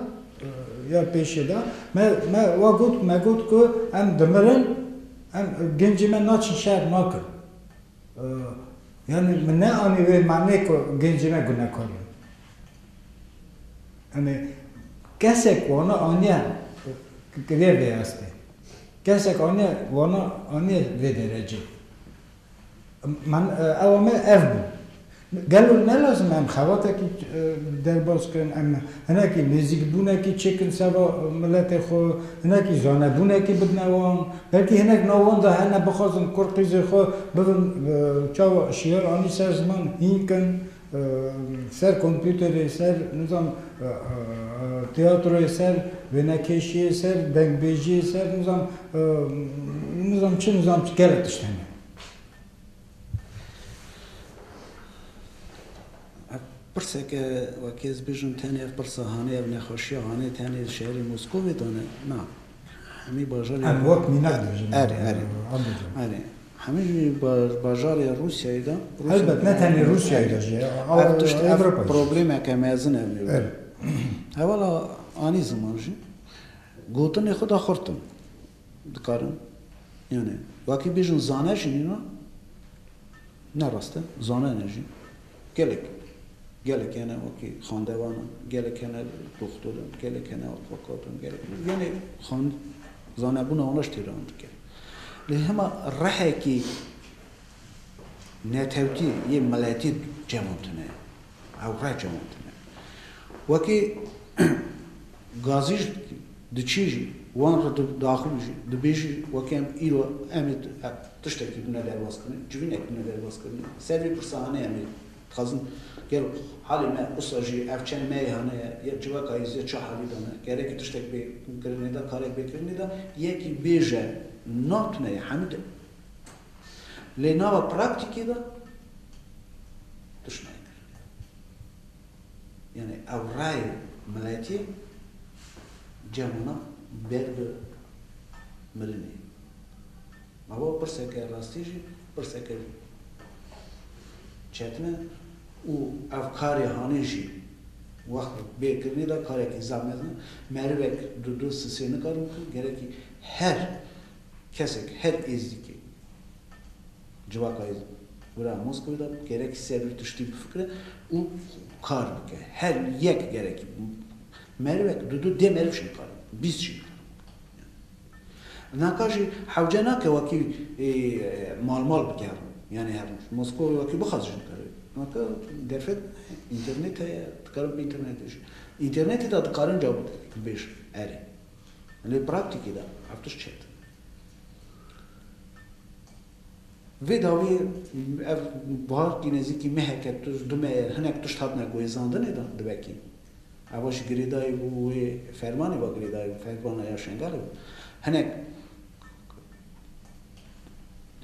ya pêşê de me me wa got me got ku em dimirin em gencê me naçin şer nakin. Yanî min ne anî wê manê ku gencî ne gunekar in. Yanî kesek wana aniye vê vê astê. Kesek aniye wana aniye vê derecê. Man ewa me ev bû. Gelo nelazim em xebatekî derbas bikin, em hinekî nêzîkbûnekî çêkin ser ba miletê xwe, hinekî zanebûnekî bidine wan, belkî hinek nav wan de hene bixwazin kur qîzê xwe bibin çawa şiyar anî ser ziman hîn kin ser kompûterê, ser nizanim tîyatroyê, ser wênekêşiyê, ser dengbêjiyê, ser nizanim nizanim çi nizanim çi gelek tişt hene. Pirseke wekî ez bêjim tenê ev pirsa hanê ev nexweşiya hanê tenê li şerî Moskovê de ne na hemî bajarê Erê wek mînak dibêjim. Erê erê erê hemî jî bajarê Rûsyayê de Elbet ne tenê Rûsyayê de jî ev tişt ev problemeke mezin ev nêro. Erê. Hevala anî ziman jî gotinê xwe de xurt in. Dikarin yanê wakî bêjin zane jî nîna ne rast e zane ne jî gelek gelek hene wakî xandevan in gelek hene doxtor in gelek hene afakat in gelek yanê xan zanebûna wana ji têra min dike lê hema rehekî netewtî yê miletî cem tune ye. Ew reh cemandine. Wekî gazî jî diçî jî wan re daxûn jî dibê jî wekî em îro em ê tiştekî bine derbazkirin, civînek bine derbazkirin. Ser vê pirsa hanê em ê dixwazin gelo halê me usa jî ev çend me yê hane ye ya civaka yê zê çi halî de ne? Gerekî tiştek bê kirinê de, karek bê kirinê de. Yekî bêje, na tune ye hemî de. Lê nava praktîkê de tiştnayê kir. Yanî ew rayê miletî cem hona ber bi mirinê. Ava pirseke rastî jî pirseke çetin e û ev karê hanê jî wext bê kirinê de karekî zehmet e. Merivek di du sisê nikare bikin, gerekî her Kesek her êzdîkê civaka yê wira Moskewê de gerek ser wî tiştî bifikire û kar bike. Her yek gerekî merivek du du dê meriv jî nikare bikin, bîst jî nikare bikin. Naka jî hewce nake wekî mal mal bigerin yanî her roj. Moskewê wekî bixwaz jî nikare bike. Naka derfet înternêt heye, dikarin bi înternêtê jî. Înternêtê de dikarin cawitêk bibêjin erê. Lê praktîkê de ev tişt çêt. Vê dawî ev buhar kî nêzîkî meheke tuz du mehe hinek tişt hatine guhêzandinê de dibekîn. Ewa ji girêdayî bû wê fermanê ve girêdayî bû, fermana ya Şengalê bû. Hinek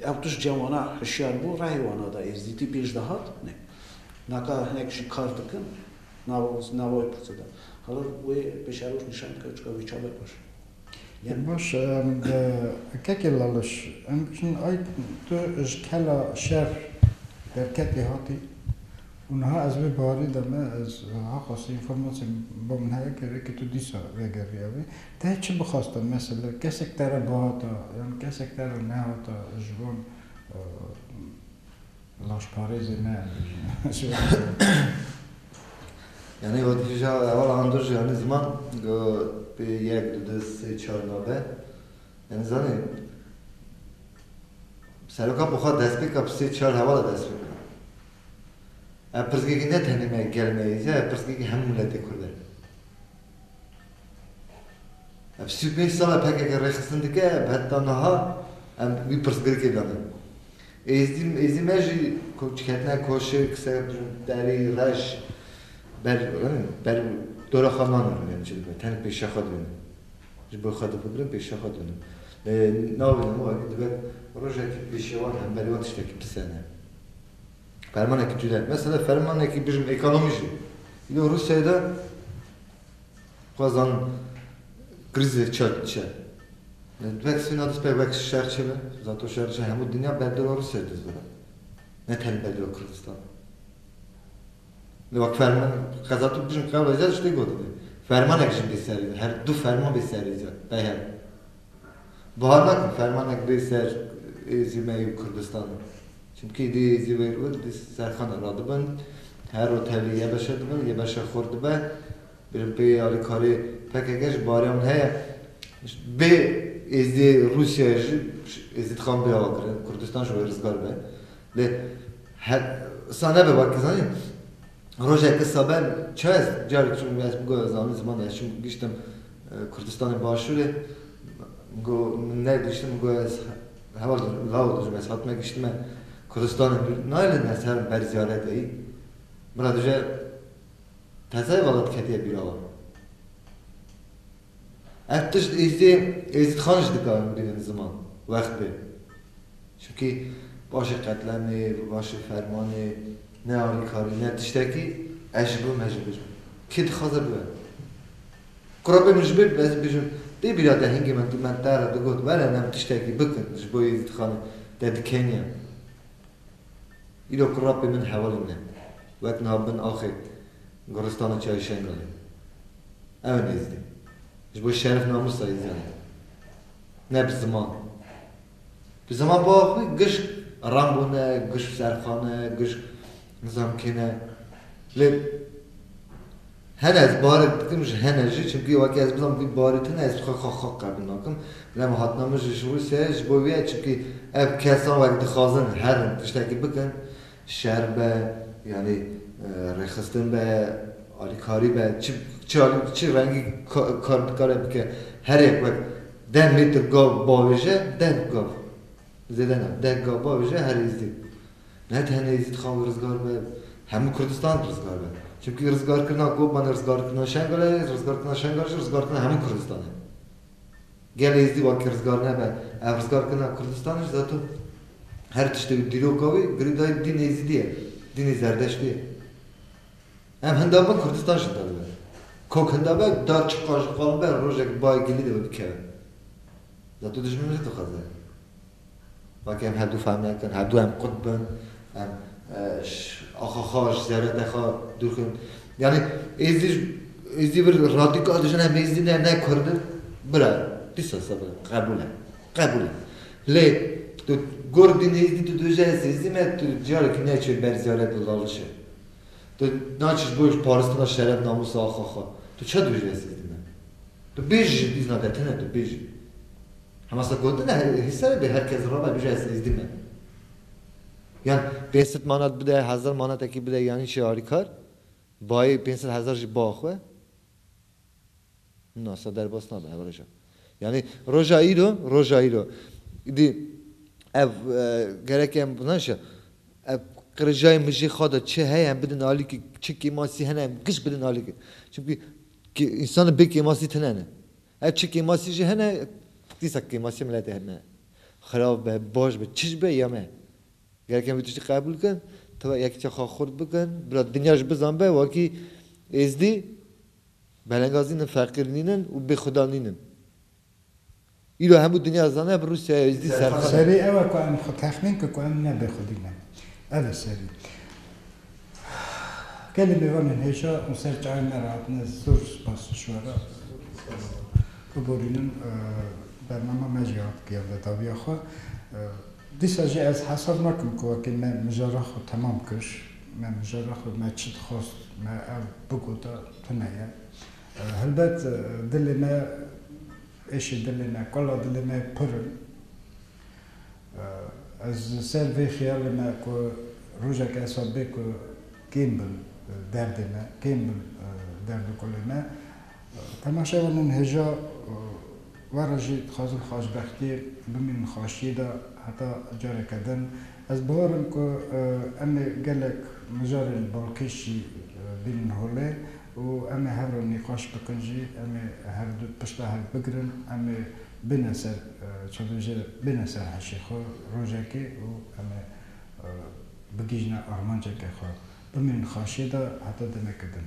ew tişt cem wana hişyar bû, rehê wana da êzdîtî pêş dihat. Naka hinek jî kar dikin. Nava wê pirsê de hala wê pêşeroj nîşan dike çika wî çav e baş e. Baş e em bi kekê laliş em bikin ay tu ji kela şer derketî hatî û niha ez vê barî de me ez ha qasî înformasyê bo min heye ke vêkê tu dîsa vegeriya vê te çi bixaste mesele kesek te re bihata yan kesek te re nehata ji wan Laşparêzê me em bêjin. Yanî wek hêja heval handir jî yanî ziman go pê yek du du sê çar nabe. Yanî zanî seroka bi xwe destpêka bi sê çar hevala dest pê kira. Ev pirsgekî ne tenê me gel me yê ev pirsgekî hemû miletê kurd e. Ev sî û pênc sal e pkk rêxistin dike heta niha em wî pirsgirêkê dane. Êzî êzî me jî ku diketine koşik ser derî reş ber ber dora xwe namînim em çi dibin tenik pêşiya xwe dibînim ji bo xwe difikirim pêşiya xwe dibînim lê nabînim wê ku dibe rojekî pêşiya wan hemberî wan tiştekî pisene fermanekî cuda mesela fermanekî bijim êkanomî jî îro Rûsyayê de Xwezan krîzê çi diçe. Wek Sîna dispê wek şer çi be, zato şer diçe hemû dinya berdeva Rûsyayê diz bibe. Ne tenê berdeva Kurdistanê. Wek ferman, qeza tu bijî qewlê ca tiştê gotinê. Fermanek jî bê serê ca, her du ferman bê serê ca, qeyer. Bahar nakin fermanek bê ser Êzîmeyê û Kurdistanê. Çimkî îdî Êzîmeyê û Kurd serxan e. Radibin, her ro tevlî yê beşe dibin, yê beşe xurt dibe. Birînpeyê alîkarê pkk ji bariya min heye. Bê êzidê Rûsyayê jî êzidî dixan bê ava kirin, Kurdistan ji wê rizgar be. Lê sa nebe wekî zanîn rojek issa be çi ez carek çûm min ez bûga zanîn ziman ez çûm giştim Kurdistanê başûrê min got min negihiştin min got ez heval dikim lawir dijim ez hatime gihiştime Kurdistanê nayê lê me ser ber ziyarete yî min re dije Qezayê vala diketiye bîra wan. Ev tişt êzdê Êzîd Xan jî dikarin bînin ziman wextê. Çimkî paşê qetlemê, paşê fermanê ne alîkarî ne tiştekî ez ji bo me jî bijim. Kê dixwaze bibe. Kura bê min ji bê ez bijim dê bîra te hingê min tu min te re digot were em tiştekî bikin ji bo Êzîd Xanê te dikenî em. Îro kurapê min hevalên me wek niha bin axê goristana Çayê Şengalê ne. Ew in Êzidî. Ji bo şeref namûsa Êziyan in. Ne bi ziman. Bi ziman bava xwe gişk Rambo ne, gişk Serxan e, gişk nizam kê ne. Lê Hene ez barik dikim ji hene jî çimkî weke ez bizam vî barî tune ez xwe xwe xwe qebûl nakim. Lem hatina min ji ji Rûsyayê ji bo vî ye çimkî ev kesan wek dixwazin herin tiştekî bikin şer be yanî rêxistin be alîkarî be çi çi alî çi rengî kar dikare bike her yek wek deh metr gav bavêje deh gav zêde na deh gav bavêje her hêzdî Ne tenê Êzîdxan rizgar be, hemû Kurdistan rizgar be. Çimkî rizgarkirina Kobanê, rizgarkirina Şengalê, rizgarkirina Şengalê jî rizgarkirina hemû Kurdistan e. Gel Êzîdî wekî rizgar nebe, ev rizgarkirina Kurdistanê jî zeto her tiştê wî dîroka wî girîdayî dîn Êzîdî ye, dînê Zerdeştî ye. Em hinda bin Kurdistan jî hinda dibe. Kok hinda be, dar çi qal ji qal be, rojek bayê gilî de be bikeve. Zeto dijmin jî dixwaze. Weke em herdu fehmek in, herdu em qut bin, em ji axa xwe, ji zerete xwe dûr kin. Yanî êzidî ji êzidî bir radîkal dijî ne, em êzidî ne, ne kurd in. Bira, dîsa sebe qebûl e, qebûl e. Lê tu kurd bî êzidî tu dibêjî ez êzidî me, tu carekî neçûyê ber zerete û lalişê. Tu naçî ji bo paristina şeref namûsa axa xwe. Tu çi dibêjî ez êzidî me? Tu bêjî ji bîzna te tune tu bêjî. Hemasa gotina herî êrî ser e bê her kes rame bije ez êzdî me. Yan pênc sed manat bide, hezar manatekî bide yanî çi alî kar. Bayê pênc sed hezar jî ba xwe. Na sa derbas nabe hevrêja. Yanî roja îro, roja îro îdî ev gerek em nan şe ev qirijayê mijê xwe de çi heye em bidin alî ki çi kêmasî hene em giş bidin alî ki. Çimkî kê însan bê kêmasî tune ne. Ev çi kêmasî jî hene, dîsa kêmasî miletê heme ye. Xerab be, baş be, çi jî be ya me ye. Gerek em vê tiştî qebûl bikin, tiba yekîtiya xwe xurt bikin, bila dinya jî bizanbe wakî Êzdî belengaz nînin, feqîr nînin û bêxweda nînin. Îro hemû dinya dizane ev Rûsyaya Êzdî serxwe ne. Serî ew e ku em xwe texmîn bikin ku em ne bêxwedî ne. Ev e serî. Gelê mêvanên hêja û ser çayên me re hatine zor spas ji we re biborînin. Bernama me jî hat pêyanda dawiya xwe. Dîsa jî ez hesab nakim ku wekî me mijara xwe temam kir. Me mijara xwe me çi dixwast me ew bigota tune ye. Helbet dilê me êşên dilê me, kala dilê me pir in. Ez li ser vê xiyal de me ku rojek ez xwe bê ku kêm bin derdê me, kêm bin derd û kulê me. Temaşeya min hêja we re jî dixwazim xweşbextiyê bimînim xweşiyê de heta careke din. Ez bihor im ku em ê gelek mijarên balkêş jî bînin holê û em ê hev re nîqaş bikin jî, em ê herdu pişta hev bigirin, em ê Bine ser çavêjê bine ser heşê xwe rojekê û em ê bigihîne armanceke xwe. Bimînin xaşiyê de heta demeke din.